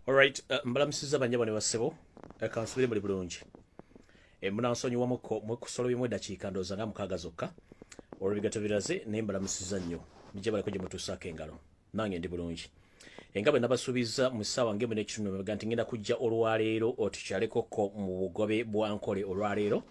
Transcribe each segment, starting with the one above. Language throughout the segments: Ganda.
Alright, uh, mbalamusiza banyabo ne basebo. Eh, Kansubire muli bulungi. E munansonyiwa muko mwekusolo bimwe dakiika ndoza nga mukaga zokka. Olwo bigato biraze ne mbalamusiza nnyo. Mije bali kuje mutusaka engalo. Nange ndi bulungi. Enga bwe nabasubiza mu sawa ngemu ne kitundu mwe ganti ngenda kujja olwaleero otukyaleko ko mu bugobe bwa nkole olwaleero.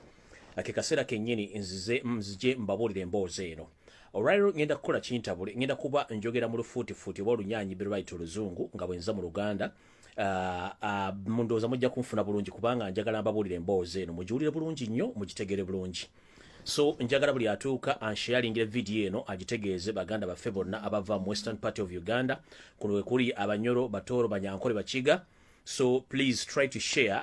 ke kaseera kennyini nzize nzije mbabuulira emboozi eno olwaliro ŋŋenda kukola kintabule ŋŋenda kuba njogera mu lufuutifuuti oba olunyaanyi berwait oluzungu nga bwenza mu luganda Ah, ah, mundowooza mujja kunfuna bulungi kubanga njagala mbabuulira emboozi eno mugiwulire bulungi nnyo mugitegere bulungi so njagala buli atuuka ansheyalingira vidiyo eno agitegeeze baganda baffe bonna abava mu western party of uganda kuno wekuli abanyoro batooro banyankole bakiga so please try to share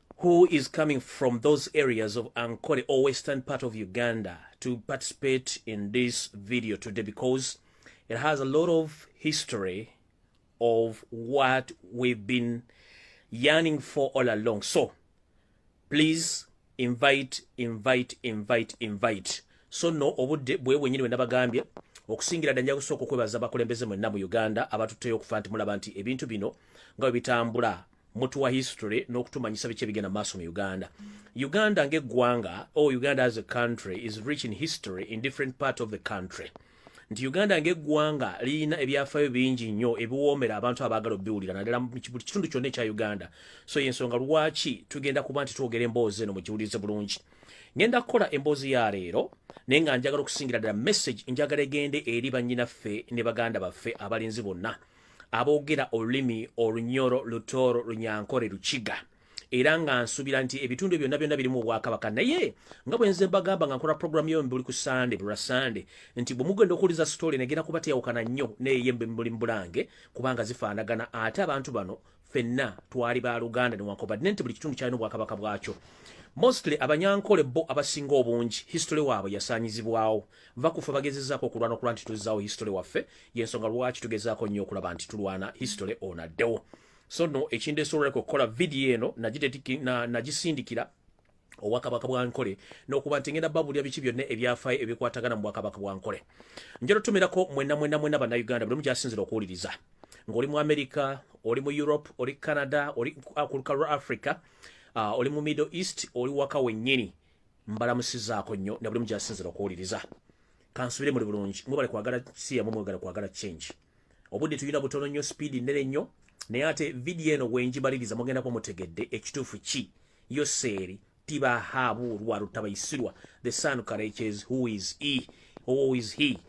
who is coming from those areas of Ankole or western part of Uganda to participate in this video today because it has a lot of history of what we've been yearning for all along. So please invite, invite, invite, invite. So no obudde bwe wenyini wenda bagambye okusingira danja kusoko kwebaza bakulembeze mwenna mu Uganda abatutteyo okufa nti mulaba nti ebintu bino nga bitambula mutuwa history n'okutumanyisa biki ebigenda maaso mu uganda uganda ng'eggwanga o oh, uganda as a country is rich in history in different part of the country nti uganda ng'eggwanga lirina ebyafayo bingi nnyo ebiwoomera abantu abaagala obiwulira naddala mu kitundu kyonna ekya uganda so yensonga lwaki tugenda kuba nti twogera emboozi eno mugiwulirize bulungi ngenda kukola emboozi ya leero naye nga njagala okusingira ddala message njagala egende eri bannyinaffe ne baganda baffe abalinzi bonna aboogera olulimi olunyoro lutooro lunyankore lukiga era nga nsuubira nti ebitundu byonna byonna birimu obwakabaka naye nga bwenze mbagamba nga nkola puroguramu yo mbuli ku sande bulwa sande nti bwe mugenda okuwuliza sitoole negenda kuba teyawukana nnyo neeye mbuli mubulange kubanga zifaanagana ate abantu bano fenna twali ba luganda newankubadde nti buli kitundu kyalina obwakabaka bwakyo mostly abanyankole bo abasinga obungi history waabwe yasaanyizibwawo nva kufa bagezezaako okulwana okulwa nti tuzzaawo history waffe yensonga lwaki tugezaako nnyo okulaba nti tulwana history ono addewo so no ekindeesoboleko okukola vidiyo eno nagisindikira na, na obwakabaka bwa nkole n'okuba nti ngenda babulira biki byonna ebyafaayo ebikwatagana mu bwakabaka bwa nkole njala otumirako mwena mwena mwena bannayuganda buli mu gyasinzira okuwuliriza ng'oli mu amerika oli mu europe oli canada oli ah, ku lukalu lwa africa ah, oli mu middle east oli waka wennyini mbalamusizaako nnyo na buli mu gyasinzira okuwuliriza kansubire muli bulungi mwebale kwagala siyamu mwegala kwagala change obudde tulina butono nnyo speed nnene nnyo naye ate vidiyo eno wenjibaliriza mugenda kuba mutegedde ekituufu ki yoseeri tibahabuulwa lutabayisirwa the son courages who is e who is he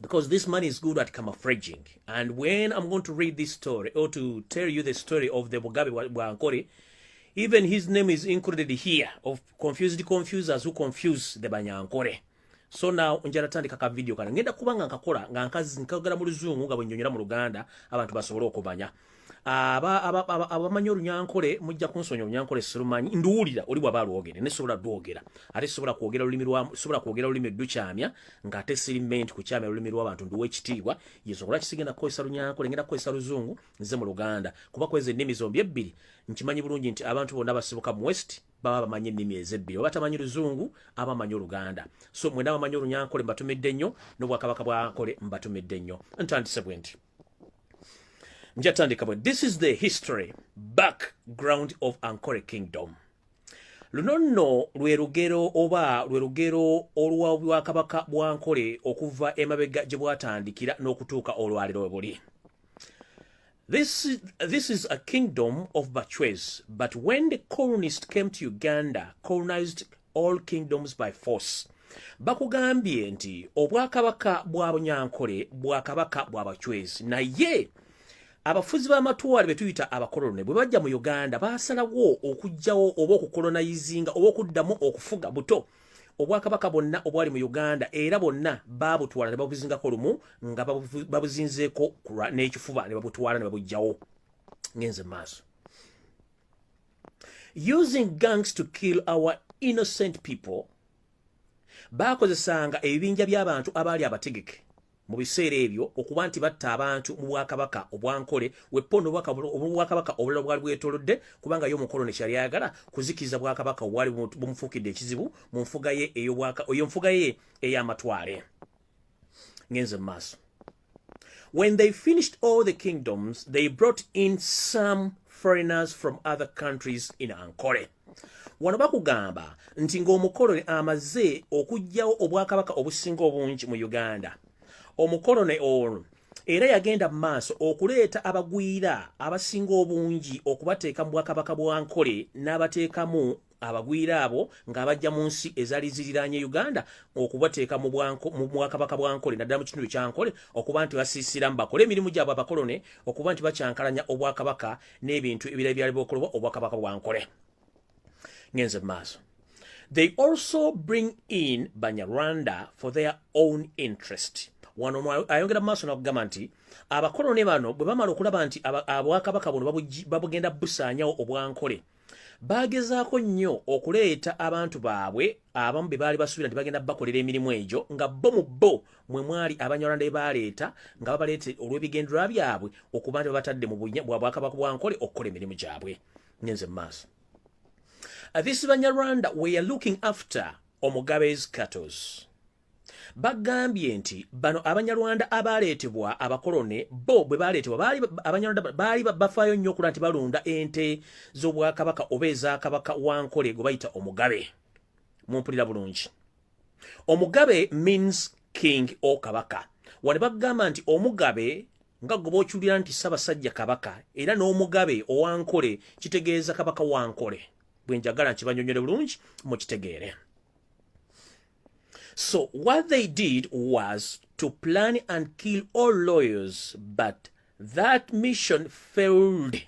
because this man is good at camoufraging. And when I'm going to read this story or to tell you the story of the Mugabe Wankore, even his name is included here of confused confusers who confuse the Banyankore. so now njala tandika ka video kana ngenda kuba nga nkakola nga nkazi nkagala mu luzungu nga bwenyonyera mu luganda abantu basobole okumanya aba aba aba abamanyi olunyankole mujja kunsonyi olunyankole sirumanyi nduwulira oli bwaba alwogere ne sobola dwogera ate sobola kwogera lulimi lwa sobola kwogera lulimi dukyamya nga ate siri ment kukyamya lulimi lwa bantu nduwe ekitiibwa yesu okola kisigenda kukozesa lunyankole ngenda kukozesa luzungu nze mu luganda kuba kwezi ennimi zombi ebbiri nkimanyi bulungi nti abantu bonna basibuka mu west baba bamanyi ennimi ezebbiri oba tamanyi luzungu aba amanyi oluganda so mwena bamanyi olunyankole mbatumidde nnyo n'obwakabaka bwankole mbatumidde nnyo ntandise bwe nti njatandika bwe this is the history background of ankore kingdom luno nno lwe lugero oba lwe lugero olwa bwakabaka bwankole okuva emabega gye bwatandikira n'okutuuka olwaliro we buli This is, this is a kingdom of Bachwez, but when the colonist came to Uganda, colonized all kingdoms by force. Bakugambye nti obwakabaka bwa Bunyankole bwakabaka bwa Bachwez. Naye abafuzi b'amatwale be tuyita abakolone bwe bajja mu Uganda baasalawo okujjawo oba okukolonayizinga oba okuddamu okufuga buto. Buto. obwakabaka bwonna obwali mu uganda era bwonna baabutwala ne babuzingako lumu nga babuzinzeeko n'ekifuba ne babutwala ne babugjawo ngenze maaso using gangs to kill our innocent people baakozesanga ebibinja by'abantu abaali abategeke mu biseera ebyo okuba nti batta abantu mu bwakabaka obwankole weppo nobwakabaka obulala bwali bwetolodde kubanga ye omukolo nekyali ayagala kuzikiriza bwakabaka obwali bumufuukidde ekizibu mu nfuga ye eyo nfuga ye ey'amatwale ngenze mu maaso when they finished all the kingdoms they brought in some foreigners from other countries in ankole wano bakugamba nti ng'omukoloni amaze okuggyawo obwakabaka obusinga obungi mu uganda omukoloni ono era yagenda mu maaso okuleeta abagwira abasinga obungi okubateeka mu bwakabaka bwa nkole n'abateekamu abagwira abo ng'abajja mu nsi ezaali ziriranye uganda okubateeka mu bwakabaka bwa nkole naddala mu kitundu kya nkole okuba nti basiisiramu bakole emirimu gyabwe abakolone okuba nti bakyankalanya obwakabaka n'ebintu ebirala byali bokolebwa obwakabaka bwankole ngenze mu maaso they also bring in banyarwanda for their own interest wano ayongera mu maaso nakugamba nti abakolone bano bwe bamala okulaba nti abwakabaka buno babugenda busaanyawo obwankole baagezaako nnyo okuleeta abantu baabwe abamu be baali basuubira nti bagenda bakolera emirimu egyo nga bo mu bo mwe mwali abanyarwanda ebaleeta nga babaleeta olw'ebigendererwa byabwe okuba nti babatadde mu bwabwakabaka bwa nkole okukola emirimu gyabwe ngenze mu maaso uh, this banyarwanda weare looking after omugabes catos bagambye nti bano abanyarwanda abaleetebwa abakolone bo bwe baleetebwa abanyarwanda baali bafaayo nnyo okula nti balunda ente z'obwakabaka oba ezakabaka wa nkole gwe bayita omugabe mumpulira bulungi omugabe means king o kabaka wali bagamba nti omugabe nga goba okiwulira nti ssabasajja kabaka era n'omugabe owankole kitegeeza kabaka wankole bwe njagala nkibanyonyole bulungi mukitegeere so what they did was to plan and kill all lawyers but that mission failed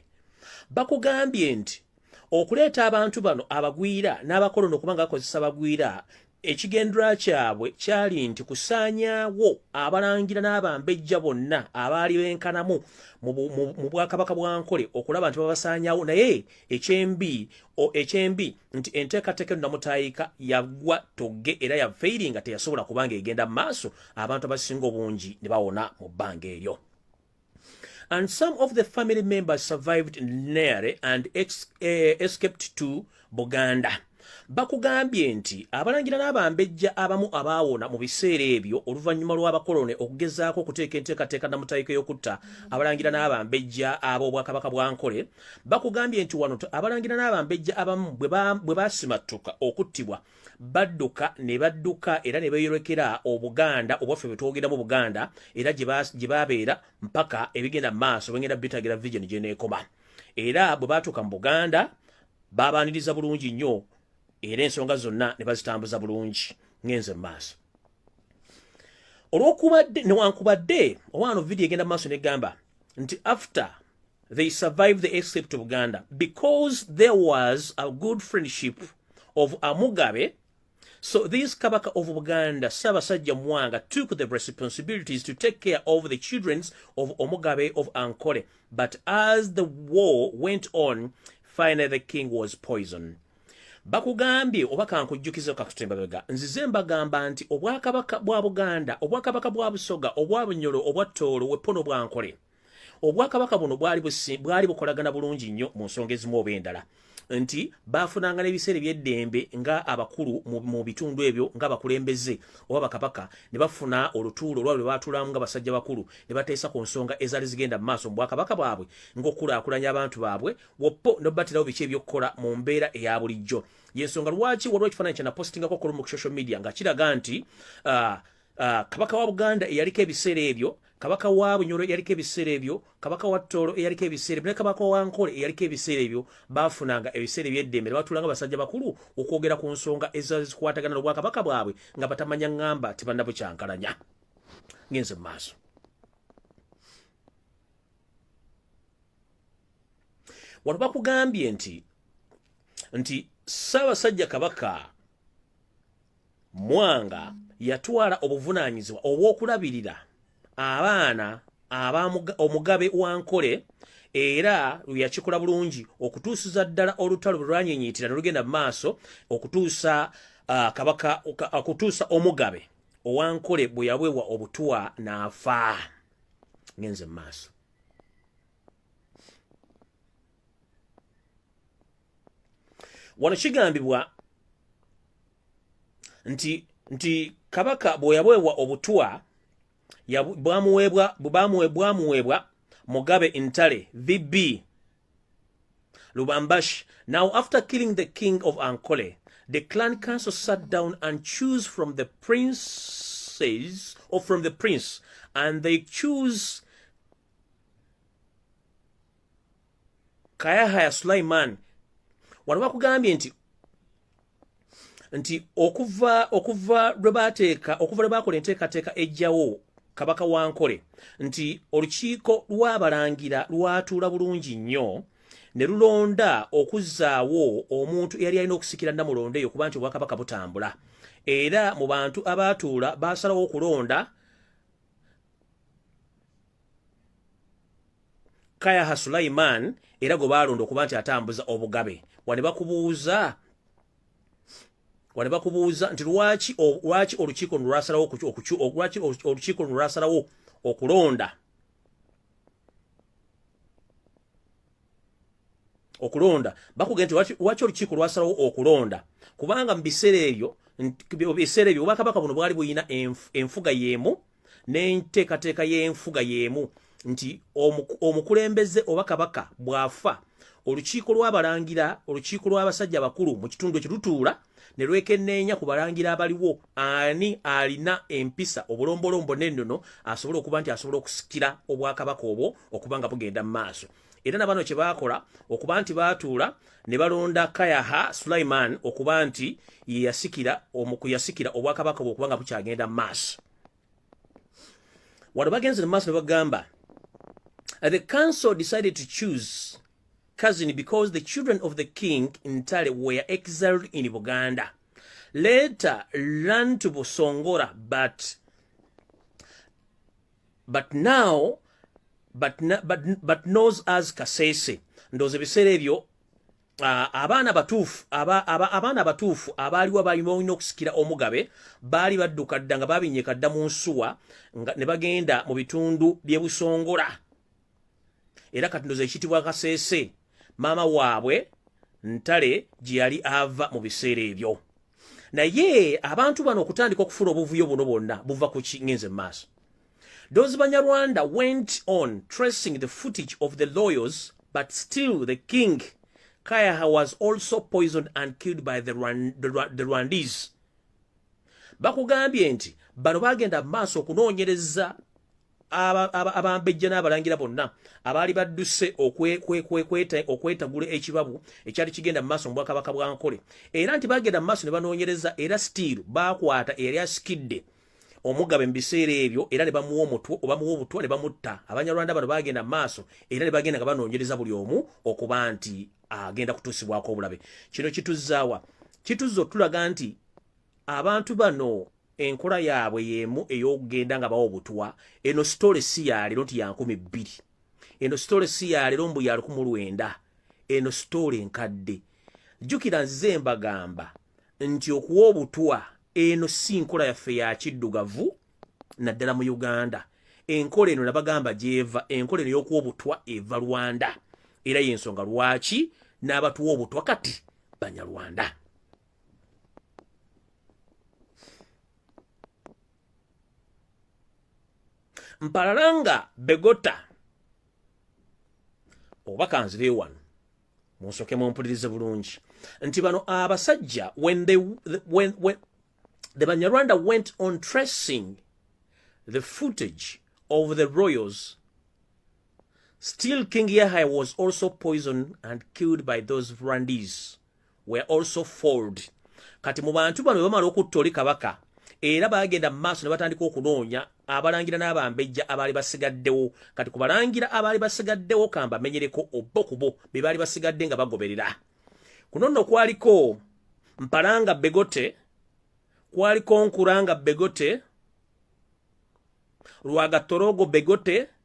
bakugambye nti okuleeta abantu bano abagwira n'abakolono okuba nga akozesa bagwira ekigendera kyabwe kyali nti kusaanyaawo abalangira n'abambejja bonna abaali benkanamu mu bwakabaka bwa nkole okulaba nti babasaanyaawo naye ekyembi ekyembi nti enteekateeka eno namutaayika yagwa togge era yafeiri nga teyasobola kubanga egenda mu maaso abantu abasinga obungi ne bawona mu bbanga eryo and some of the family members survived nearly and ex, eh, escaped to buganda bakugambye nti abalangira n'abambejja abamu abaawona mu biseera ebyo oluvannyuma lw'abakolone okugezaako okuteeka enteekateeka namutayika y'okutta abalangira n'abambejja ab'obwakabaka bwa nkole bakugambye nti wano abalangira n'abambejja abamu bwe basimattuka okuttibwa badduka ne badduka era ne beeyolekera obuganda obwaffe bwe twogera mu buganda era gye baabeera mpaka ebigenda mu maaso bengenda bitagira vision gye neekoma era bwe baatuuka mu buganda baabaaniriza bulungi nnyo era ensonga zonna ne bazitambuza bulungi ng'enze mu maaso olwokubadde newankubadde owaano vidiyo egenda mu maaso negamba nti after they survived the escape to Uganda because there was a good friendship of Amugabe. So these Kabaka of Uganda, Sabasajja Mwanga, took the responsibilities to take care of the children of Omugabe of Ankole. But as the war went on, finally the king was poisoned. bakugambye oba kankujjukiza kakutembabega nzize mbagamba nti obwakabaka bwa buganda obwakabaka bwa busoga obwa bunyolo obwa toolo wepono bwankole obwakabaka buno bwali bwali bukolagana bulungi nnyo mu nsonga ezimu oba endala nti baafunanga n'ebiseera ebyeddembe nga abakulu mu bitundu ebyo nga bakulembeze oba bakabaka ne bafuna olutuulo olwa lwe baatulamu nga basajja bakulu ne bateesa ku nsonga ezaali zigenda mu maaso mu bwakabaka bwabwe ng'okukulaakulanya abantu baabwe woppo ne babatirawo biki ebyokukola mu mbeera eya bulijjo y'ensonga lwaki waliwo ekifaananyi kyanapositingako okulu mu social media nga kiraga nti uh, uh, kabaka wa buganda eyaliko ebiseera ebyo kabaka wa bunyoro eyaliko ebiseera ebyo kabaka wa toolo eyaliko ebiseera ebyo ne kabaka wa nkole eyaliko ebiseera ebyo baafunanga ebiseera ebyeddembe ne batuulanga basajja bakulu okwogera ku nsonga ezazikwatagana n'obwakabaka bwabwe nga batamanya ŋŋamba tibannabukyankalanya ngenze mu maaso wano bakugambye nti nti ssaabasajja kabaka Mwanga yatwala obuvunaanyizibwa obw'okulabirira abaana aba omugabe wa Nkole era lwe yakikola bulungi okutuusiza ddala olutalo bwe lwanyenyiitira ne lugenda mu maaso okutuusa uh, kabaka okutuusa omugabe owa Nkole bwe yaweebwa obutwa n'afa ngenze mu maaso wano kigambibwa nti nti kabaka bweyaweebwa obutwa bwamuweebwa mugabe intale vb lubambash now after killing the king of ankole the clan council sat down and choose from the princes or from the prince and they choose kayahaya sulaiman wano bakugambye nti nti okuva okuva lwe bateeka okuva lwe bakola enteekateeka ejjawo kabaka wa nkole nti olukiiko lw'abalangira lwatuula bulungi nnyo ne lulonda okuzzaawo omuntu eyali alina okusikira namulondo eyo kuba nti obwakabaka butambula era mu bantu abaatuula baasalawo okulonda kayaha sulaiman era gwe baalonda okuba nti atambuza obugabe wane bakubuuza wane bakubuuza nti lwaki lwaki olukiiko luno lwasalawo lwaki olukiiko luno lwasalawo okulonda okulonda bakugenda nti lwaki olukiiko lwasalawo okulonda kubanga mu biseera ebyo biseera ebyo obwakabaka buno bwali bulina enfuga y'emu n'enteekateeka y'enfuga y'emu nti omukulembeze oba kabaka bw'afa olukiiko lw'abalangira olukiiko lw'abasajja abakulu mu kitundu ekyo lutuula ne lwekenneenya ku balangira abaliwo ani alina empisa obulombolombo n'ennono asobola okuba nti asobola okusikira obwakabaka obwo okuba nga bugenda mu maaso era na bano kye baakola okuba nti baatuula ne balonda kayaha sulaiman okuba nti yeyasikira omukuyasikira obwakabaka bwokuba nga bukyagenda mu maaso wano bagenze mu maaso ne bagamba uh, the council decided to choose cousin because the children of the king ntale were exiled in buganda later learn to busongora but but now but, but, but knows as kasese ndoze ebiseera ebyo uh, abaana batuufu aba, aba, abaana batuufu abaaliwo balina olina okusikira omugabe baali badduka dda nga babinyeka dda mu nsuwa ne bagenda mu bitundu byebusongola era kati ndoza ekitibwa kasese maama waabwe ntale gye yali ava mu biseera ebyo naye abantu bano okutandika okufuna obuvuyo buno bwonna buva ku kingenze mu maaso those banyarwanda went on tracing the footage of the lawyers but still the king kayaha was also poisoned and killed by the, Rwand the, Rwand the rwandese bakugambye nti bano bagenda maaso okunoonyereza abambejja n'abalangira bonna abaali badduse okwetagula ekibabu ekyali kigenda mu maaso mu bwakabaka bwa nkole era nti bagenda mu maaso ne banoonyereza era sitiiru baakwata eyali asikidde omugabe mu biseera ebyo era ne bamuwa omutwe obamuwa obutwa ne bamutta abanyarwanda bano bagenda mu maaso era ne bagenda nga banoonyereza buli omu okuba nti agenda kutuusibwako obulabe kino kituzzaawa kituzza otulaga nti abantu bano enkola yaabwe yeemu ey'okugenda nga bawa obutwa eno sitole si yaleero nti yankumi bbiri eno sitole si yaleero mbu yalukumu lwenda eno sitole enkadde jjukira nzize mbagamba nti okuwa obutwa eno si nkola yaffe ya kiddugavu naddala mu uganda enkola eno nabagamba gyeva enkola eno y'okuwa obutwa eva rwanda era y'ensonga lwaki n'abatuwa obutwa kati banyarwanda mpalalanga begota oba kanzire wano munsoke mumpulirize bulungi nti bano abasajja when they, when, when, the banyarwanda went on tracing the footage of the royals still king yahya was also poisoned and killed by those rwandese were also fold kati mu bantu bano bamala okutta oli kabaka era bagenda mu maaso ne batandika okunoonya abalangira n'abambejja abaali basigaddewo kati ku balangira abaali basigaddewo kamba menyereko obbo kubo be baali basigadde nga bagoberera kuno nno kwaliko mpalanga begote kwaliko nkuranga begote lwagatorogo begote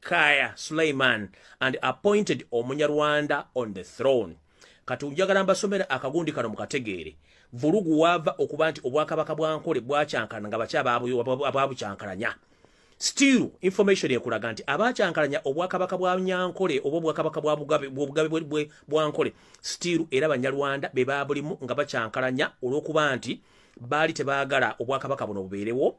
Kaya Suleiman and appointed Omunyarwanda on the throne. Kati njagala mbasomera akagundi kano mukategeere. Vulugu wava okuba nti obwakabaka bwa Nkole bwakyankalana nga bakya ababukyankalanya. Still information ekulaga nti abakyankalanya obwakabaka bwa Nyankole oba obwakabaka bwa Bugabe bwe bwa Nkole still era Banyarwanda be babulimu nga bakyankalanya olwokuba nti baali tebagala obwakabaka buno bubeerewo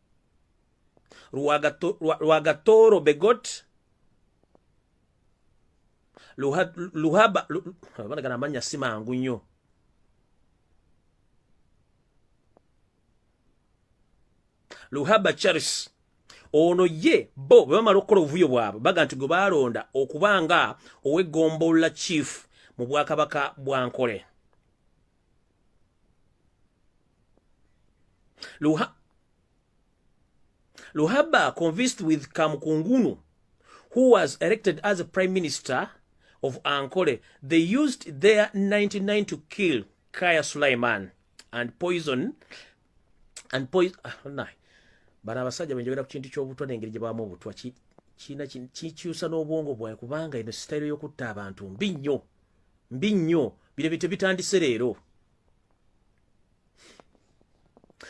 Rwagatoro Begot Luhaba banagana amanya si mangu nnyo Luhaba Charles ono ye bo bwe bamala okukola obuvuyo bwabwe baga nti gwe baalonda okuba nga ow'eggombolola chief mu bwakabaka bwa nkole Luha Luhaba convinced with Kamkungunu, who was elected as a prime minister of Ankole, they used their 99 to kill Kaya Sulaiman and poison and poison ah, nah. bana abasajja benjogera ku kintu ky'obutwa n'engeri gye baamu obutwa kiina kikyusa n'obwongo bwawe kubanga eno sitayiro y'okutta abantu mbi nnyo mbi nnyo bino bityo bitandise leero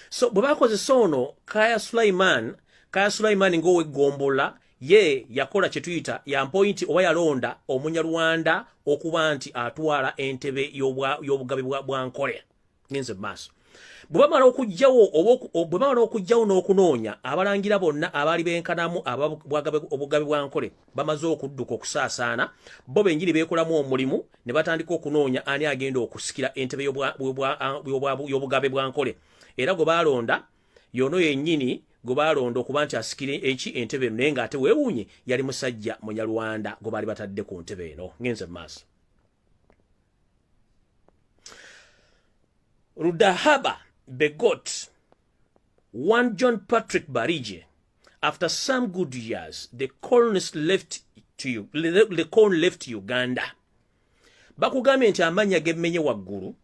so bwe bakozesa ono kaya sulaiman kaya sulaiman ngaoweggombolola ye yakola kye tuyita yampointi oba yalonda omunyarwanda okuba nti atwala entebe y'obugabi bwa nkoya ngenze mu maaso bwe bamala okugyawo bwe bamala okugyawo n'okunoonya abalangira bonna abaali benkanamu obugabi bwa nkole bamaze okudduka okusaasaana bo benjiri beekolamu omulimu ne batandika okunoonya ani agenda okusikira entebe y'obugabe bwa nkole era gwe baalonda yono yennyini gwe baalonda okuba nti asikira eki entebe eno naye ng'ate weewuunye yali musajja munyarwanda gwe baali batadde ku ntebe eno ngenze mu maaso rudahaba begot One John Patrick Barije, after some good years, the colonists left to you, the colony left Uganda. Bakugambye nti amanya gemmenye waggulu.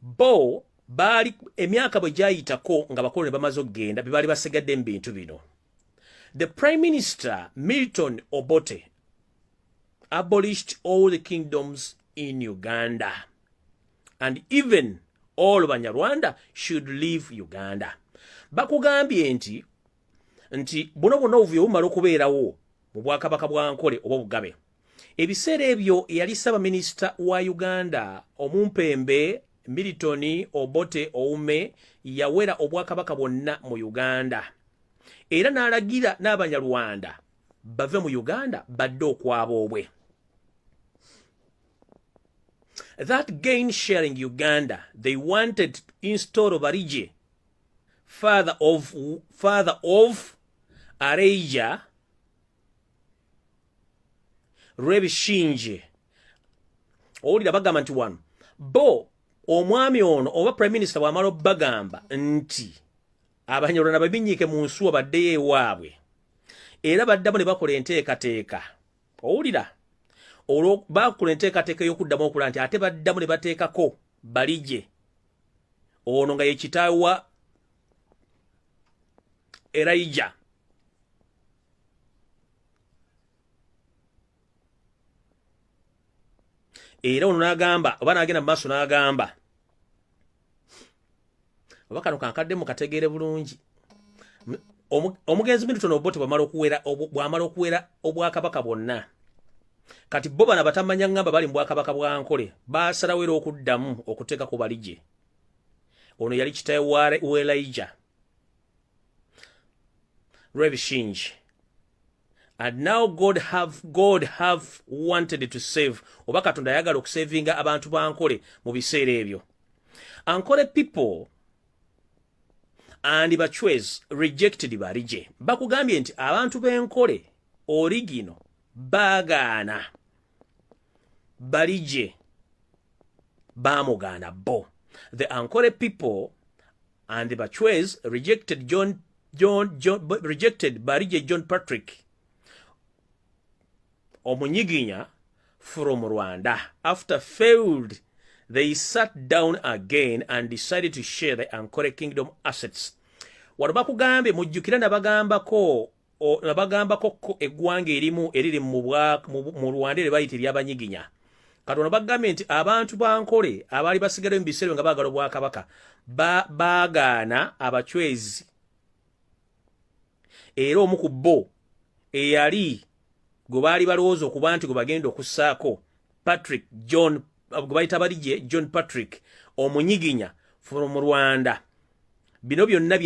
Bo baali emyaka bwe gyayitako nga bakoloni bamaze okugenda bye baali basigadde mu bintu bino. The Prime Minister Milton Obote abolished all the kingdoms in Uganda. and even all banyarwanda should leave uganda bakugambye nti nti buno bwonna obuvuyo bumala okubeerawo mu bwakabaka bwa nkole oba obugabe ebiseera ebyo eyali ssaabaminisita wa uganda omumpembe milton obote oume yawera obwakabaka bwonna mu uganda era n'alagira n'abanyarwanda bave mu uganda badde okwaboobwe that gain sharing uganda they wanted to install barije father of father of areija rebishinje owulira bagamba nti wano bo omwami ono oba prime minister bwamala obagamba nti abanyarwanda babinyiike mu nsuwa baddeyo ewaabwe era baddamu ne bakola enteekateeka owulira olwo baakula enteekateeka ey'okuddamu okula nti ate baddamu ne bateekako baligye ono nga ye kitaawe wa erayija era ono n'agamba oba n'agenda mu maaso n'agamba oba kano kankadde mukategeere bulungi omugenzi milton obote bwamala okuwera bwamala okuwera obwakabaka bwonna kati bo bana batamanya ngamba bali mu bwakabaka bwa nkole basalawo era okuddamu okuteeka ku baligye ono yali kitaye welaija lwebishingi and now god have god have wanted to save oba katonda ayagala okusavinga abantu bankole mu biseera ebyo ankole people and bachwez rejected barije bakugambye nti abantu benkole origino bagaana balije baamugaana bo the ankole people and the bachwes rejected john, john, john rejected barije john patrick omunyiginya from rwanda after failed they sat down again and decided to share the ankole kingdom assets wano bakugambye mujjukira nabagambako nabagambako ko eggwanga erimu eriri mu rwanda ere bayita eryabanyiginya kati ono bagambye nti abantu bankole abaali basigalayo mu biseera nga baagala obwakabaka baagaana abacwezi era omu ku bo eyali gwe baali balowooza okuba nti gwe bagenda okussaako patrick john gwe bayita baligye john patrick omunyiginya from rwanda bino byonna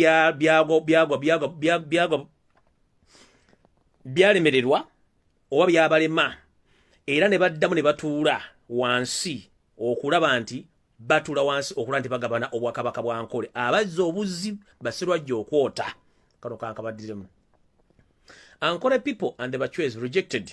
byalemererwa oba byabalema era ne baddamu ne batuula wansi okulaba nti batula wansi okula nti bagabana obwakabaka bwa nkole abazza obuzzi basirwajja okwota kano kankabaddiremu ankole people and the bachwez rejected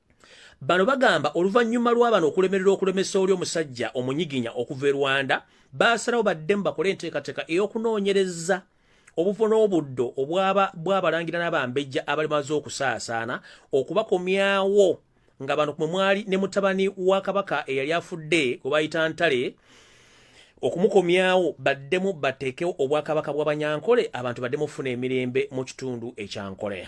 Bano bagamba oluvannyuma lwa bano okulemerera okulemesa oli omusajja omunyiginya okuva e Rwanda baasalawo baddemu bakole enteekateeka ey'okunoonyereza obufo n'obuddo obwaba bwabalangira n'abambejja abali maze okusaasaana okubakomyawo nga bano mwe mwali ne mutabani wa kabaka eyali afudde gwe bayita ntale okumukomyawo baddemu bateekewo obwakabaka bw'abanyankole abantu baddemu okufuna emirembe mu kitundu ekyankoleya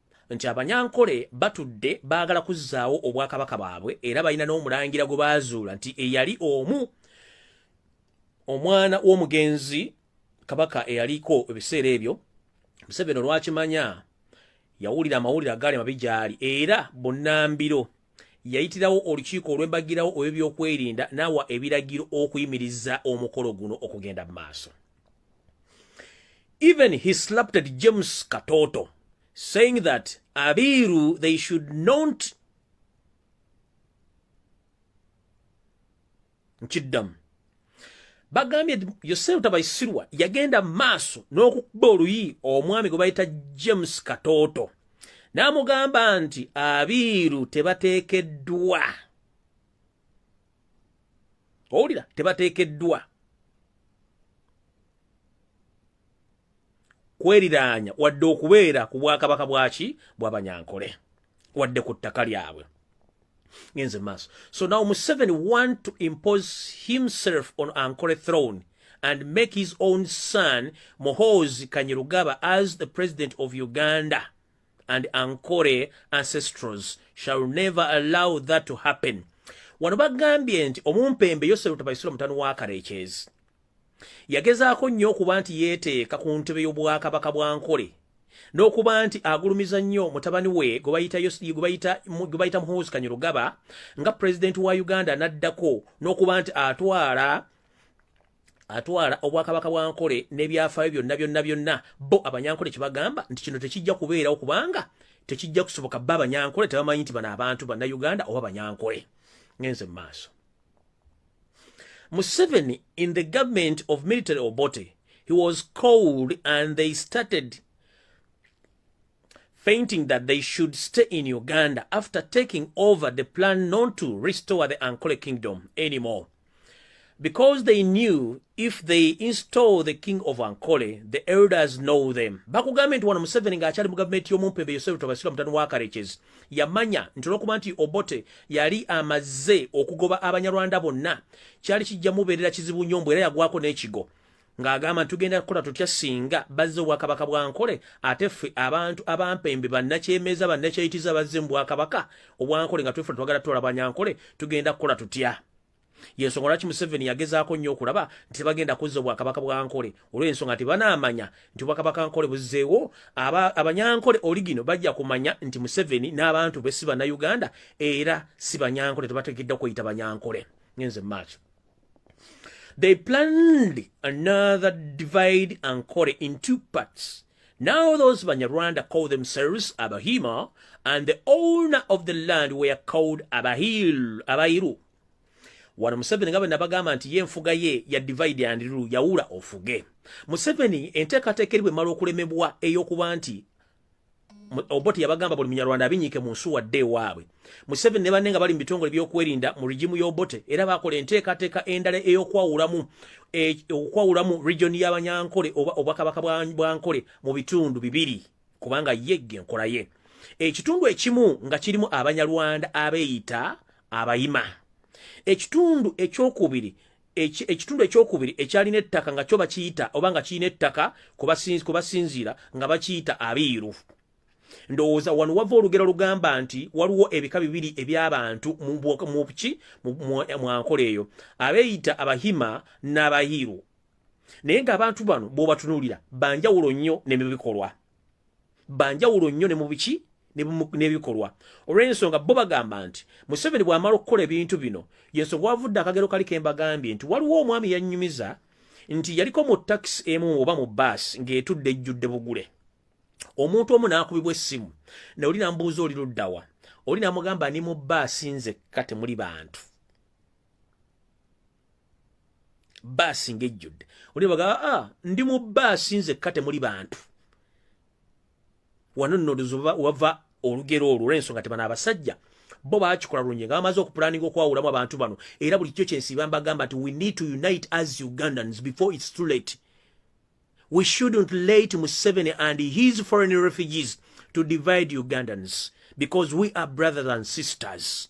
nti abanyankole batudde baagala kuzzaawo obwakabaka bwabwe era balina n'omulangira gwe baazuula nti eyali omu omwana w'omugenzi kabaka eyaliko ebiseera ebyo museveni olwakimanya yawulira amawulire agaali mabi gyali era bunambiro yayitirawo olukiiko olwembagirawo olw'ebyokwerinda n'awa ebiragiro okuyimiriza omukolo guno okugenda mu maaso Even he slapped at James Katoto, saying that Abiru, they should not nkiddamu bagambye yosefu tabaisirwa yagenda maaso n'okukuba oluyi omwami gwe bayita james katooto n'amugamba nti abiiru tebateekeddwa owulira tebateekeddwa kweriraanya wadde okubeera ku bwakabaka bwaki bwabanyankole wadde ku ttaka lyabwe ngenze maaso so now museveni want to impose himself on ankole throne and make his own son mohozi kanyerugaba as the president of uganda and ankore ancestrals shall never allow that to happen wano bagambye nti omumpembe yosefu tabaisula mutano wa karekyezi yagezaako nnyo okuba nti yeeteeka ku ntebe y'obwakabaka bwa nkole n'okuba nti agulumiza nnyo mutabani we gwe bayita muhoozi kanyirugaba nga pulezidenti wa uganda n'addako n'okuba nti atwala atwala obwakabaka bwa nkole n'ebyafaayo byonna byonna byonna bo abanyankole kye bagamba nti kino tekijja kubeerawo kubanga tekijja kusoboka ba abanyankole tebamanyi nti bano abantu bannayuganda oba banyankole ngenze mu maaso museveni in the government of military obote he was called and they started fainting that they should stay in Uganda after taking over the plan not to restore the Ankole kingdom anymore. Because they knew if they install the king of Ankole, the elders know them. Bakugambye nti wano Museveni ng'akyali mu gavumenti y'omumpembe Yosef Tobasira mutano wa Karekezi yamanya nti olw'okuba nti Obote yali amaze okugoba Abanyarwanda bonna kyali kijja mubeerera kizibu nnyo mbu era yagwako n'ekigo ng'agamba nti tugenda kukola tutya singa bazze obwakabaka bwa nkole ate ffe abantu abampembe bannakyemeeza bannakyeyitiza bazze mu bwakabaka obwankole nga twefula twagala tutola banyankole tugenda kukola tutya yensonga lwaki museveni yagezaako nnyo okulaba nti tebagenda kuzza obwakabaka bwa nkole olw'ensonga nti banaamanya nti obwakabaka nkole buzzeewo abanyankole oligino bajja kumanya nti museveni n'abantu be si bannayuganda era si banyankole tebategeddwa kweyita banyankole ngenze mu maaso They planned another divide and quarter in two parts. Now those Banyarwanda call themselves Abahima, and the owner of the land were called Abahil, Abairu. wano museveni nga bwenabagamba nti ye enfuga ye ya divide and rule yawula ofuge museveni enteekateeka eri bwemala okulemebwa ey'okuba nti oboti yabagamba buli munyarwanda abinyike mu nsuwa dde ewaabwe museveni ne banne nga bali mu bitongole byokwerinda mu rigimu y'obote era bakola enteekateeka endala ey'okwawulamu e, okwawulamu regioni y'abanyankole oba obwakabaka bwa nkole mu bitundu bibiri kubanga ye ge nkola ye ekitundu ekimu nga kirimu abanyarwanda abeeyita abayima ekitundu ekyokubiri ekitundu ekyokubiri ekyalina ettaka nga kyo bakiyita oba nga kirina ettaka ku basinziira nga bakiyita abiiru ndowooza wano wava olugero lugamba nti waliwo ebika bibiri eby'abantu mubuki mwankola eyo abeeyita abahima n'abahiiru naye ng'abantu bano bw'obatunuulira banjawulo nnyo ne mu bikolwa banjawulo nnyo ne mu biki n'ebikolwa olw'ensonga bo bagamba nti museveni bw'amala okukola ebintu bino yensonga wavudde akagero kali kembagambye nti waliwo omwami yannyumiza nti yaliko mu takisi emu oba mu baasi ng'etudde ejjudde bugule omuntu omu n'akubibwa essimu naoli namubuuza oli luddawa oli namugamba ni mu baasi nzekka temuli bantu baasi ng'ejjudde oli baga a ah, ndi mu baasi nzekka temuli bantu wano nno wava olugero olwo olw'ensonga tebana abasajja bo bakikola lungi nga bamaze okupulaninga okwawulamu abantu bano era buli kyo kyensiiba mbagamba nti we need to unite as ugandans before its too late we shouldn't late museveni and his foreign refugees to divide ugandans because we are brothers and sisters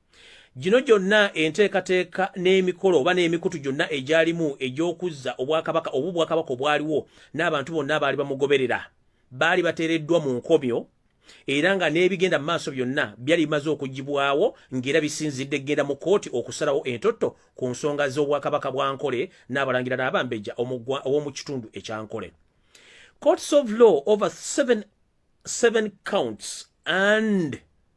Gino gyonna enteekateeka n'emikolo oba n'emikutu gyonna egyalimu egy'okuzza obwakabaka oba obwakabaka obwaliwo n'abantu bonna abaali bamugoberera baali bateereddwa mu nkomyo era nga n'ebigenda mu maaso byonna byali bimaze okugibwawo ng'era bisinzidde kugenda mu kkooti okusalawo entotto ku nsonga z'obwakabaka bwa nkole n'abalangira n'abambejja ow'omu kitundu ekya nkole courts of law over seven, seven counts and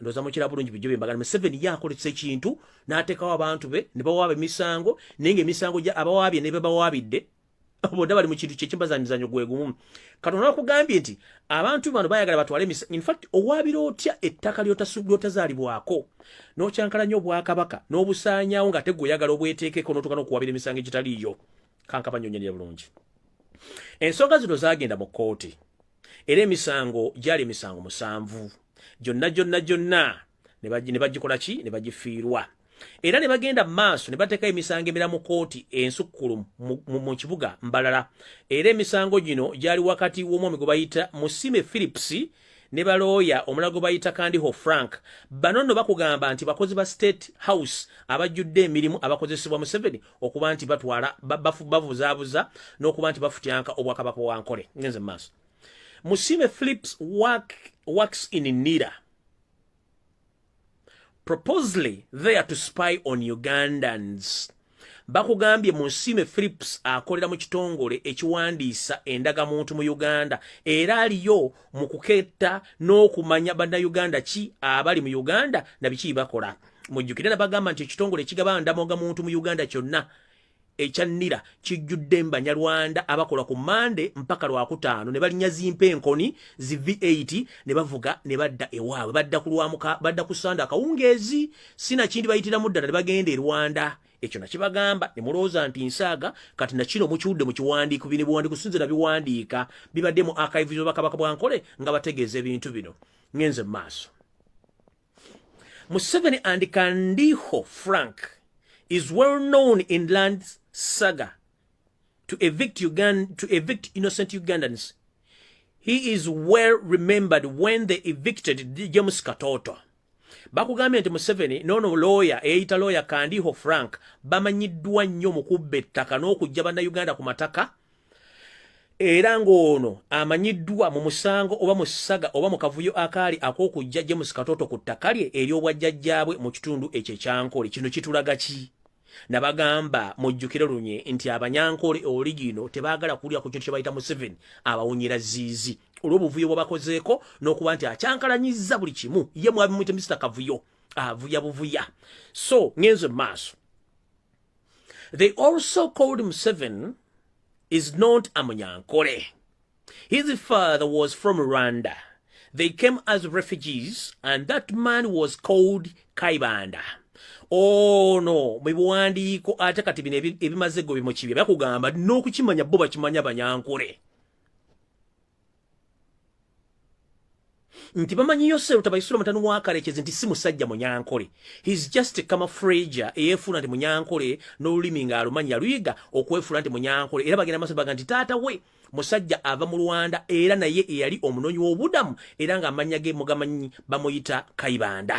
ndoza mukira bulungi bijobe mbagala Museveni yakolesa ekintu n'ateekawo abantu be ne bawaaba emisango naye ng'emisango gya abawaabye ne be bawaabidde boda bali mu kintu kye kimbaza mizanyo gwe gumu katonda wakugambye nti abantu bano bayagala batwale emisango in fact owaabira otya ettaka lyotazaalibwako n'okyankala nnyo obwakabaka n'obusaanyawo ng'ate gwe oyagala obweteekeko n'otuuka n'okuwaabira emisango egitaliiyo kankabanyonyonera bulungi ensonga zino zaagenda mu kkooti era emisango gyali emisango musanvu gyonna gyonna gyonna ne bagikola ki ne bagifiirwa era ne bagenda mu maaso ne bateekayo emisango emira mu kooti ensukkulu mu kibuga mbalala era emisango gino gyali wakati w'omwami gwe bayita musime philips ne balooya omulala gwe bayita kandiho frank bano nno bakugamba nti bakozi ba state house abajjudde emirimu abakozesebwa museveni okuba nti batwala bavuzaabuza n'okuba nti bafutyanka obwakabaka wa nkole ngenze mu maaso musiime philips work, works in nira proposely there to spy on ugandans bakugambye mu nsiime philips akolera mu kitongole ekiwandiisa endagamuntu mu uganda era aliyo mu kuketta n'okumanya bannayuganda ki abali mu uganda na biki bakola mujjukire nabagamba nti ekitongole ekigaba ndamoga muntu mu uganda kyonna ekya nira kijjudde mbanyarwanda abakola ku mande mpaka lwakutaano ne balinya zimpa enkoni zi v8 ne bavuga ne badda ewaabwe badda ku lwamuka badda ku sande akawungeezi sinakindi bayitiramu ddala ne bagenda e rwanda ekyo nakibagamba ne mulowooza nti nsaaga kati nakino mukiwudde mu kiwandiiko bino biwandiiko sinze na biwandiika bibadde mu akayivuzo bakabaka bwankole nga bategeeza ebintu bino ngenze mu maaso Museveni and Kandiho Frank is well known in land saga to evict, Ugand to evict innocent Ugandans. He is well remembered when they evicted James Katoto. bakugambye nti museveni nono looya eyita looya kandiho frank bamanyiddwa nnyo mu kubba ettaka n'okujja bannayuganda ku mataka era ng'ono amanyiddwa mu musango oba mu ssaga oba mu kavuyo akaali ak'okujja James Katoto ku ttaka lye ery'obwajjajjaabwe mu kitundu ekyo ekyankole kino kitulaga ki nabagamba mujjukire lunye nti abanyankole oligino tebaagala kuwulira ku kintu kye bayita Museveni abawunyira ziizi olw'obuvuyo bwe bakozeeko n'okuba nti akyankalanyizza buli kimu ye mwabimuyite Mr Kavuyo avuya buvuya so ngenze mu maaso They also called Museven is not a Munyankore. His father was from Rwanda. They came as refugees and that man was called Kaibanda. Oh no, mwibuwandiiko ate kati bino ebimaze go bimukibye bakugamba n'okukimanya bo bakimanya banyankore. nti bamanyi yoseru tabaisula mutani wakarekezi nti si musajja munyankole his just camafrager eyefuula nti munyankole n'olulimi nga alumanyi yaluyiga okwefuula nti munyankole era bagenda maso baga nti taata we musajja ava mu rwanda era naye eyali omunonyi w'obudamu era nga amanya ge mugamanyi bamuyita kaibanda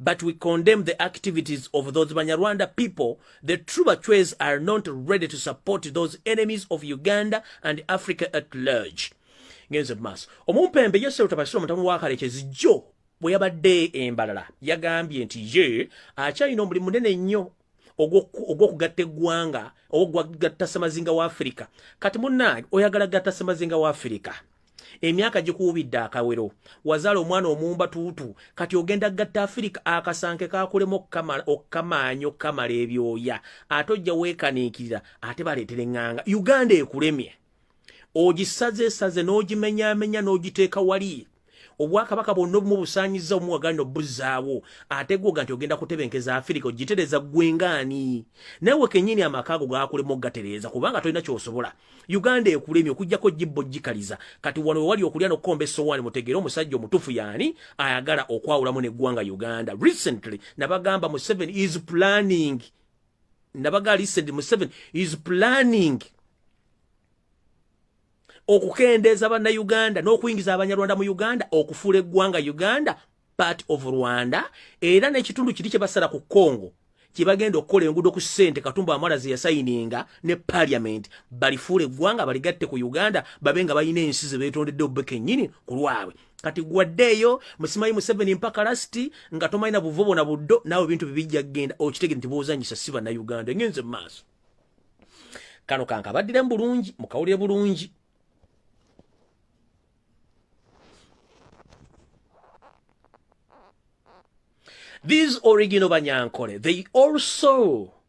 but we condemn the activities of those Banyarwanda people. The true Bachwez are not ready to support those enemies of Uganda and Africa at large. Ngenze maso. Omumpembe yese utabasiro mutamu wakale chezijjo. Bweyabadde embalala. Yagambye nti ye. Acha ino muli munene nyo. ogwokugatta eggwanga ogwokugatta semazinga wa afirika kati munange oyagala gatta semazinga wa afirika emyaka gikuwubidde akawero wazaala omwana omumba tuutu kati ogenda gatta afirika akasanke kakulemu okukamaanyi okukamala ebyoya ate ojja weekaniikirira ate baleetera eŋŋanga uganda ekulemye ogisaze saze n'ogimenyaamenya n'ogiteeka wali obwakabaka bwonna obumu busaanyiza omu wagala nobuzzaawo ate gwoga nti ogenda kutebenkeza afirika ogitereza gwengaani nawe kenyini amaka ago gakulemu okugatereeza kubanga tolina kyosobola uganda ekulemi okujjako jibbo jikaliza kati wano wewali okulya nokukomba essowaani mutegeere omusajja omutufu yaani ayagala okwawulamu neggwanga uganda recently nabagamba mu seven is planning nabaga lisedi museven is planning okukendeeza bannayuganda n'okuyingiza abanyarwanda mu uganda okufuula eggwanga uganda part of rwanda era n'ekitundu kiri kye basala ku congo kye bagenda okukola enguudo ku ssente katumba amala ze yasayininga ne parliament balifuula eggwanga baligatte ku uganda babe nga balina ensi ze beetondedde obbe kennyini ku lwabwe kati gwaddeeyo musimayi museveni mpaka lasiti nga tomalina buvo bona buddo naawe ebintu bibijja kugenda okitegere nti bwozanyisa si bannayuganda engenze mu maaso kano kankabaddiremu bulungi mukawulire bulungi these original banyankole they also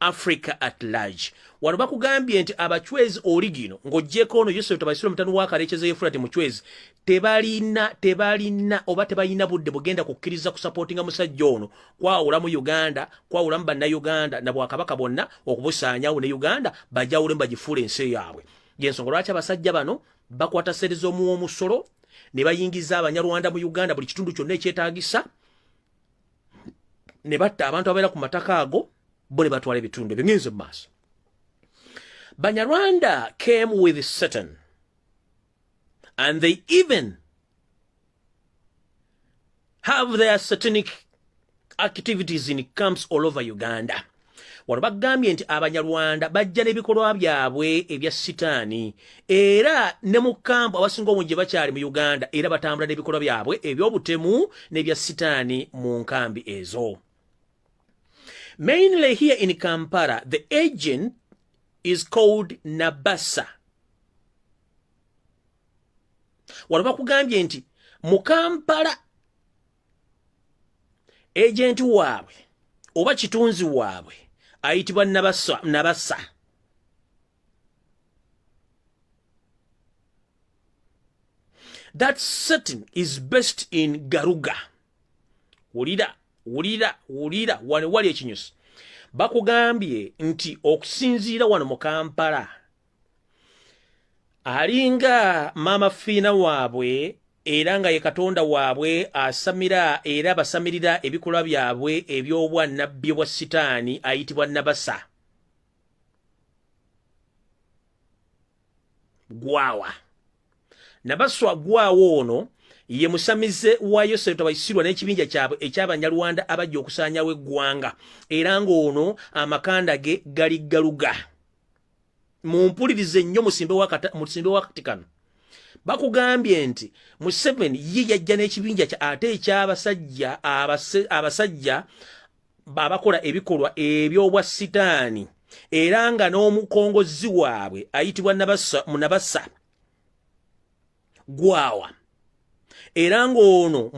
africa at large wano bakugambye nti abachwezi oligino ng'ogyeko ono yusuf tabaisira omutano wakarekyeza yefurati muchwezi tebalina tebalina oba tebalina budde bugenda kukkiriza kusapootinga musajja ono kwawula mu uganda kwawula mu bannauganda na bwakabaka bonna okubusaanyawo ne uganda bajawulemu bagifuula ensi yaabwe yensonga lwaki abasajja bano bakwata sere z'omuwa omusolo ne bayingiza abanyarwanda mu uganda buli kitundu kyonna ekyetagisa ne batta abantu ababeera ku mataka ago bo ne batwala ebitundu ebyo ngenze mu maaso banyarwanda came with satan and they even have their satanic activities in camps all over uganda wano bagambye nti abanyarwanda bajja n'ebikolwa byabwe ebya sitaani era ne mu kampu abasinga obungi gye bakyali mu uganda era batambula n'ebikolwa byabwe eby'obutemu n'ebya sitaani mu nkambi ezo mainly here in kampala the agent is called nabasa wano bakugambye nti mu kampala ejenti waabwe oba kitunzi waabwe ayitibwa nabasa that setting is best in garuga wulira wulira wulira wano wali ekinyusi bakugambye nti okusinziira wano mu kampala alinga maama fiina waabwe era nga ye katonda waabwe asamira era basamirira ebikolwa byabwe eby'obwa nabbi bwa sitaani ayitibwa nabasa gwawa nabaswa gwawa ono ye musamize wa yosefu tabaisirwa n'ekibinja kyabwe eky'abanyarwanda abajja okusaanyawo eggwanga era ng'ono amakanda ge gali galuga mumpulirize nnyo musimbe wakati kano bakugambye nti museveni ye yajja n'ekibinja kya ate ekyabasajja abasajja babakola ebikolwa ebyobwa sitaani era nga n'omukongozi waabwe ayitibwa nabasa gwawa era ng'ono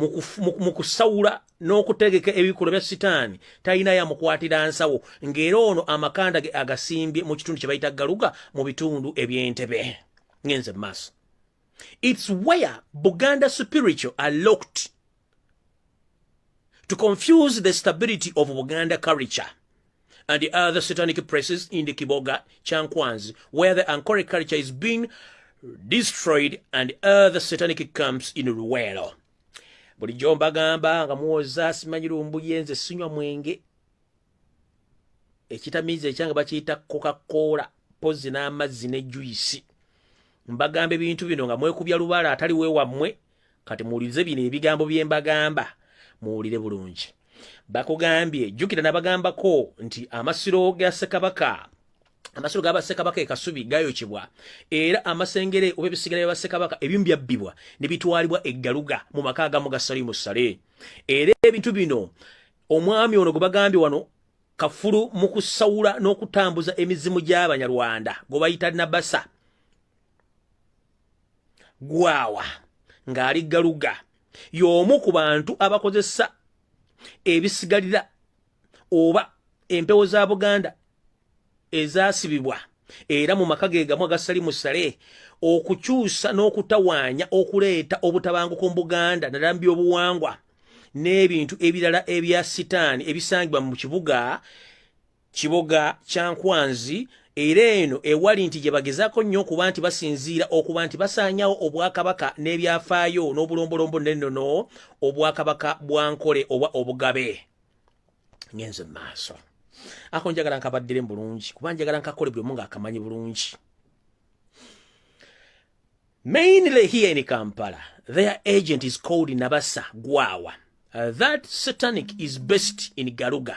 mu kusawula n'okutegeka ebikolwa bya sitaani talina yamukwatira nsawo ng'era ono amakanda ge agasimbye mu kitundu kye bayita galuga mu bitundu eby'entebe ngenze mu maaso its where buganda spiritual are locked to confuse the stability of Buganda culture and the other satanic places in the Kiboga Chankwanzi, where the Ankore culture is being destroyed and other satanic camps in Ruwero. bulijjo mbagamba nga muwoza simanyi lumbuye nze sinywa mwenge ekitamiiza ekyange bakiyita kokakoola pozi n'amazzi ne juyisi mbagamba ebintu bino nga mwekubya lubaala atali wewammwe kati muwulirize bino ebigambo bye mbagamba muwulire bulungi bakugambye jjukira nabagambako nti amasiro ga ssekabaka amasiro ga bassekabaka e kasubi gayokyebwa era amasengere oba ebisigala bya bassekabaka ebimu byabbibwa ne bitwalibwa eggaluga mu maka agamu ga salimu sale era ebintu bino omwami ono gwe bagambye wano kafulu mu kusawula n'okutambuza emizimu gy'abanyarwanda gwe bayita nabasa gwawa ng'ali galuga y'omu ku bantu abakozesa ebisigalira oba empewo za buganda ezaasibibwa era mu maka ge gamu agasali musale okukyusa n'okutawaanya okuleeta obutabanguko mu buganda naddala mu byobuwangwa n'ebintu ebirala ebya sitaani ebisangibwa mu kibuga kiboga kya nkwanzi era eno ewali nti gye bagezaako nnyo okuba nti basinziira okuba nti basaanyawo obwakabaka n'ebyafaayo n'obulombolombo n'ennono obwakabaka bwa nkole oba obugabe ngenze mu maaso ako njagala nkabaddire mu bulungi kuba njagala nkakole buli omu ng'akamanyi bulungi mainly here in kampala their agent is called nabasa gwawa uh, that satanic is based in garuga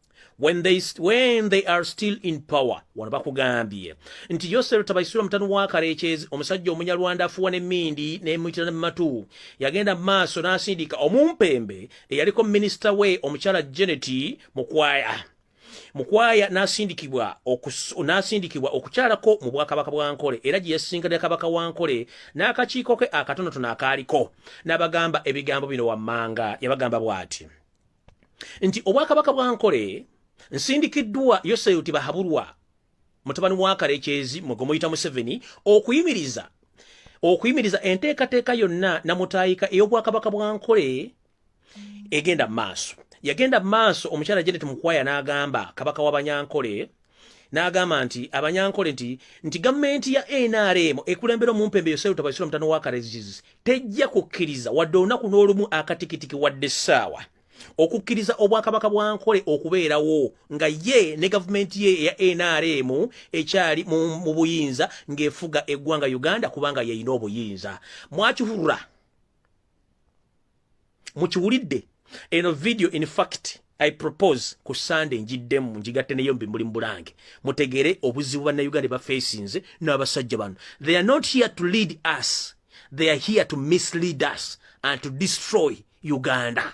when they, when they are still in power wano bakugambye nti yosero tabaisura mutano wa karekyezi omusajja omunyarwanda afuwa ne mindi ne mutira ne matu yagenda maaso nasindika omumpembe eyaliko minister we omukyala jeneti mukwaya mukwaya nasindikibwa nasindikibwa okukyalako mu bwakabaka bwa nkole era gye yasinkana kabaka wa nkole n'akakiiko ke akatonotono akaaliko n'abagamba ebigambo bino wammanga yabagamba bw'ati nti obwakabaka bwa nkole nsindikiddwa yoseyuti bahabulwa mutabani wa kalekyezi mwe gwemuyita museveni okuyimiriza okuyimiriza enteekateeka yonna namutaayika ey'obwakabaka bwa nkole egenda mu maaso yagenda mu maaso omukyala janet mukwaya n'agamba kabaka w'abanyankole n'agamba nti abanyankole nti nti gavumenti ya nrm ekulembera omumpembe yoseru tabasira omutano wa kareziz tejja kukkiriza wadde olunaku n'olumu akatikitiki wadde essaawa okukkiriza obwakabaka bwa nkole okubeerawo nga ye ne gavumenti ye eya nrm ekyali mu buyinza ng'efuga eggwanga uganda kubanga yeyina obuyinza mwakihurura mukiwulidde eno video in fact i propose ku sunday njiddemu njigatte neyo mbi muli mubulange mutegere obuzibu bannayuganda bafesinze n'abasajja bano they are not here to lead us they are here to mislead us and to destroy uganda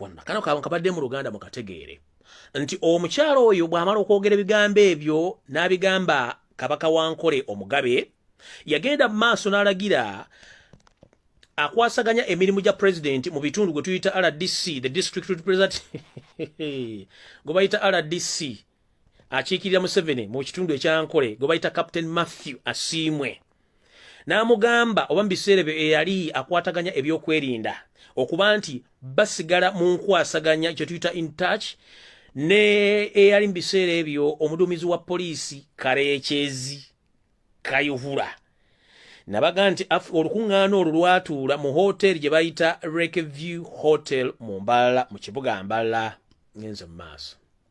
wonna kano kaba nkabadde mu luganda mukategeere nti omukyalo oyo bw'amala okwogera ebigambo ebyo n'abigamba kabaka wa nkole omugabe yagenda mu maaso n'alagira akwasaganya emirimu gya pulezidenti mu bitundu gwe tuyita rdc the district representative gwe bayita rdc akiikirira museveni mu kitundu ekyankole gwe bayita captain matthew asiimwe n'amugamba oba mu biseera ebyo eyali akwataganya ebyokwerinda okuba nti basigala mu nkwasaganya kye tuyita in touch ne eyali mu biseera ebyo omuduumizi wa poliisi kareekyezi kayuhura nabaga nti olukuŋŋaana olwo lwatuula mu hoteeri gye bayita rekeview hotel mu mbala mu kibuga mbala ngenze mu maaso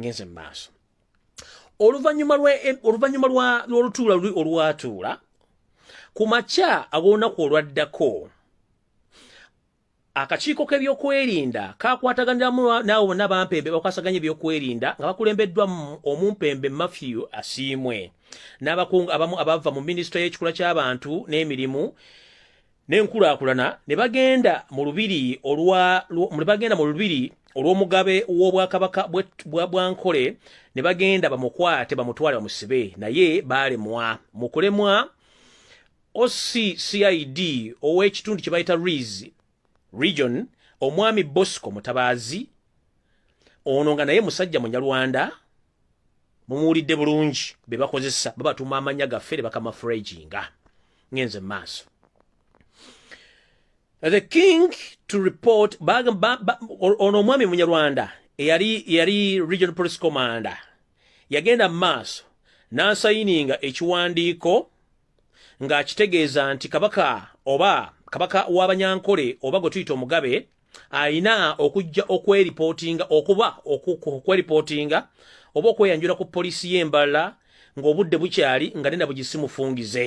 ngenze mumaaso oluvanyuma oluvanyuma lwolutuula luli olwatuula ku makya ag'olunaku olwaddako akakiiko k'ebyokwerinda kakwataganiramu naawe bonna bampembe bakwasaganya ebyokwerinda nga bakulembeddwa omumpembe matthew asiimwe n'abakungu abamu abava mu minisitule y'ekikula ky'abantu n'emirimu n'enkulaakulana ne bagenda mu lubiri olwa ne bagenda mu lubiri olw'omugabe w'obwakabaka bwa bwankole ne bagenda bamukwate bamutwale bamusibe naye baalemwa mu kulemwa OCCID ow'ekitundu kye bayita Riz region omwami Bosco Mutabaazi ono nga naye musajja munyarwanda mumuwulidde bulungi be bakozesa babatuma amanya gaffe ne bakama freginga ngenze mu maaso the king to report ono omwami munyarwanda eyali yali regional police commander yagenda mu maaso n'asayininga ekiwandiiko ng'akitegeeza nti kabaka oba kabaka w'abanyankole oba gwe tuyita omugabe alina okujja okweripootinga okuba okweripootinga oba okweyanjula ku poliisi y'embala ng'obudde bukyali nga nena bugisimufungize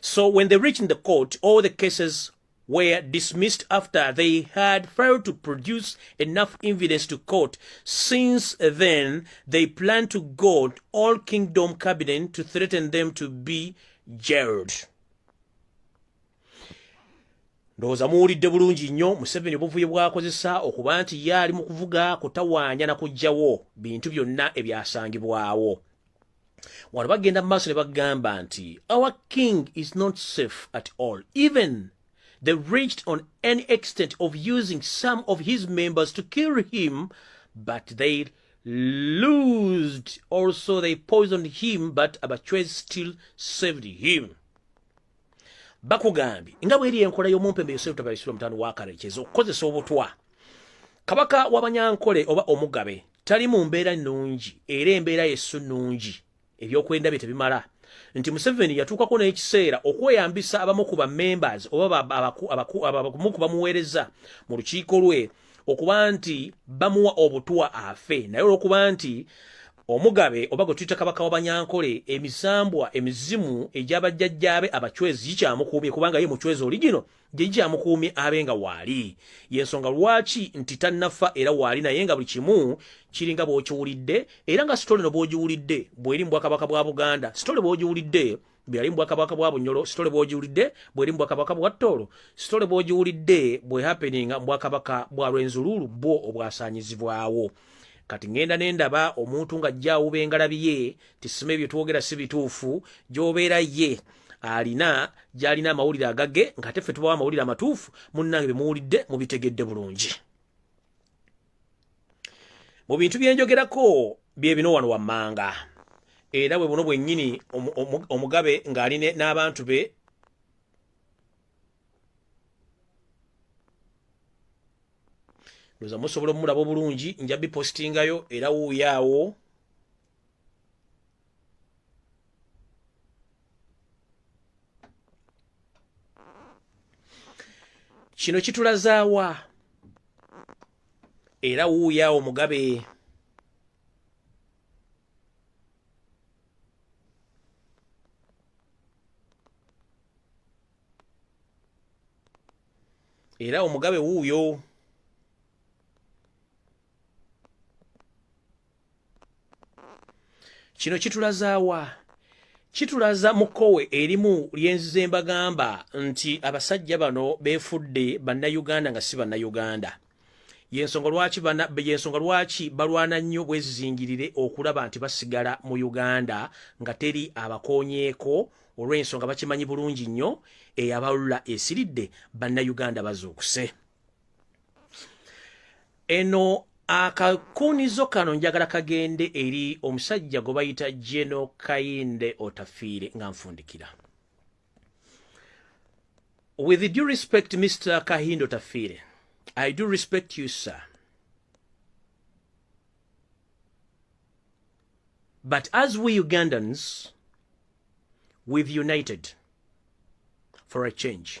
So when they reached the court, all the cases were dismissed after they had failed to produce enough evidence to court. Since then, they plan to go all kingdom cabinet to threaten them to be jailed. ndowooza muwulidde bulungi nnyo museveni obuvuyo bwakozesa okuba nti ye ali mu kuvuga kutawaanya na kugyawo bintu byonna ebyasangibwawo wano bagenda mu maaso ne bagamba nti our king is not safe at all even they reached on any extent of using some of his members to kill him but they loosed also they poisoned him but abachwez still saved him bakugambye nga bweri enkola y'omumpembe yosefu tabaisula mutano wakare kyeza okukozesa obutwa kabaka wabanyankole oba omugabe tali mu mbeera nnungi era embeera yesu nnungi ebyokwenda bye tebimala nti museveni yatuukako n'ekiseera okweyambisa abamu ku bamembers oba abamu ku bamuweereza mu lukiiko lwe okuba nti bamuwa obutwa afe naye olwokuba nti omugabe oba gwe tuyita kabaka wabanyankole emisambwa emizimu egyabajjajjaabe abacwezi gikyamukuumye kubanga ye mucwezi oligino jejje amukuumye abe nga waali yensonga lwaki nti tannafa era waali naye nga buli kimu kiringa bwokiwulidde era nga sitole no bwogiwulidde bweri mubwakabaka bwa buganda sitole bwogiwulidde byali mubwakabaka bwa bunyolo sitole bwogiwulidde bweri mubwakabaka bwa ttoolo sitole bwogiwulidde bwehapeninga mubwakabaka bwa lwenzuluulu bwo obwasanyizibwawo kati ngenda nendaba omuntu nga jja awuba engalabi ye tisima ebyo twogera si bituufu gyobeera ye alina gyalina amawulire agage ngaate ffe tubawo amawulire amatuufu munnange bemuwulidde mubitegedde bulungi mu bintu byenjogerako byebino wano wammanga era bwe buno bwennyini omugabe ng'ali n'abantu be ndoza musobola omulaba obulungi nja bipostingayo era wuuyaawo kino kitulazaawa era wuuya omugabe era omugabe wuuyo kino kitulazaawa kitulaza mukowe erimu lyenzize mbagamba nti abasajja bano befudde bannayuganda nga si bannayuganda yensonga lwaki yensonga lwaki balwana nnyo bwezizingirire okulaba nti basigala mu uganda nga teri abakonyeeko olw'ensonga bakimanyi bulungi nnyo eyabalula esiridde bannayuganda bazuukuse eno akakuunizo kano njagala kagende eri omusajja gwe bayita geno kayinde otafiire nga nfundikira with due respect mr kahinde otafiire i do respect you sir but as we ugandans we've united for a change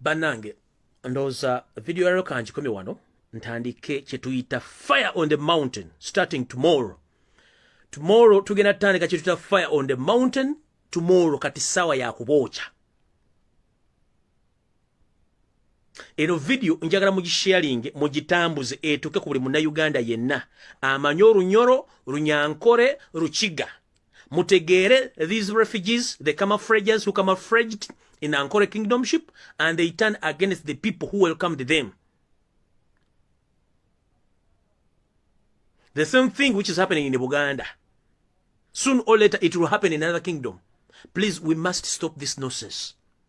banange ndowooza video yalero kangikomye wano ntandike kyetuyita fire on the mountain starting tomorrow tomorrow tugenda tutandika kyetuyita fire on the mountain tomorrow kati saawa yakubookya eno vidiyo njagala mugisharinge mugitambuze etuuke ku buli munnayuganda yenna amanye olunyoro runyankore rukiga mutegeere these refugees the camafrages who camafraged in ankore kingdomship and they turn against the people who welcomed them the same thing which is happening in buganda soon or later it will happen in another kingdom please we must stop this nonsense